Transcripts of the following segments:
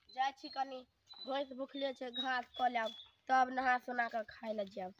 जाइ छी कनी भैंस भुखले छै घास कऽ लेब तब नहा सोना कऽ खाय लए जायब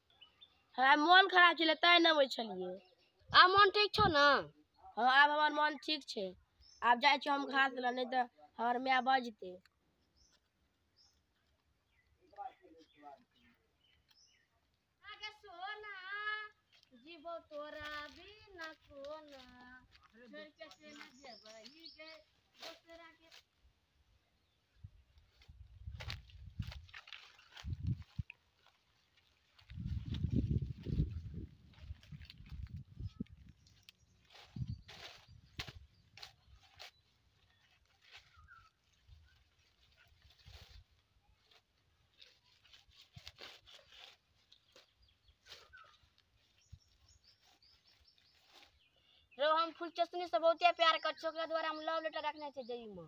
हमरा मोन खराब छलै तैं नहि अबै छलियै आ मोन ठीक छौ ने हँ आब हमर मोन ठीक छै आब जाइ छी हम घास लऽ नहि तऽ हमर माय बजतै जीवो तोरा बिना कोना छोड़ के से न जेबै गे दोसरा के रो हम फुलचसनी से बहुते प्यार कर छी ओकरा द्वारा हम लव लेटर रखने छी जई में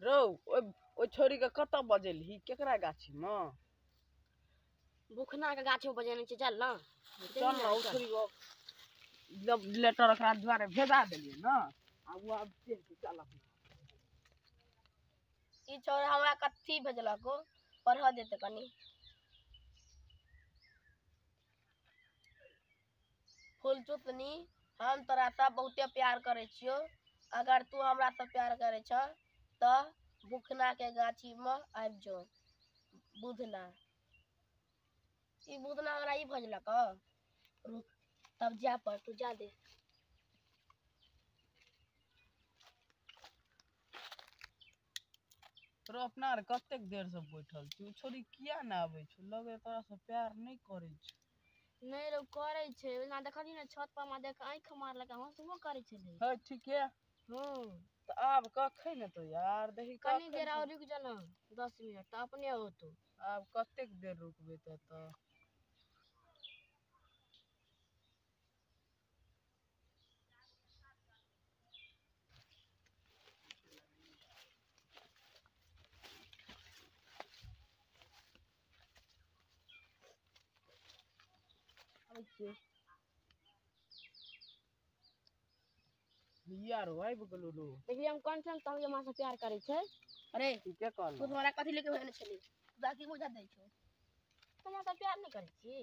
रौ ओहि ओहि छोरीके कतऽ बजेलही केकरा गाछीमे बुखना के गाछी बजेने छै चल ना चल ने ओ छोरी ओ जब लेटर ओकरा दुआरे भेजा देलियै ने आ ओ आब चलि के चल अपना ई छोरा हमरा कथी भेजलक ओ पढ़ऽ देते कनी फुलचुतनी हम तोरा से बहुते प्यार करे छियो अगर तू हमरा से प्यार करे छ तो बुखना के गाछी में आबि जो बुधना ई बुधना हमरा ई भजलक रुक तब जा पर तू जा दे रो अपना आर कतेक देर से बैठल छी छोड़ी किया ने आबे छौ लगे तोरा से प्यार नहि करे छौ नहि रौ करै छै ओना देखलियै ने छत पर हमरा देख आँखि मारलक आ हँसबो करै छलै हे ठीके हँ तऽ आब कखै ने तो यार देखी कनी देर आओर रुकि जाना दस मिनट तऽ अपने होतौ आब कतेक देर रुकबै तऽ तऽ आबै छियै भैया रौ आबि गेलौ रौ देखियै हम कोन ठाम कहबै हमरा से प्यार करै छै अरे तू के कहल तू हमरा कथी लेके भेजने छली बाकी बुझा दै छौ हमरा से प्यार नहि करै छी